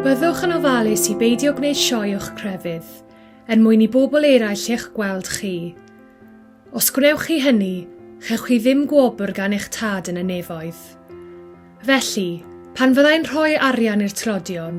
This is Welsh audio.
Byddwch yn ofalus i beidio gwneud sioe o'ch crefydd, er mwyn i bobl eraill eich gweld chi. Os gwnewch chi hynny, chewch chi ddim gwobr gan eich tad yn y nefoedd. Felly, pan fyddai'n rhoi arian i'r tlodion,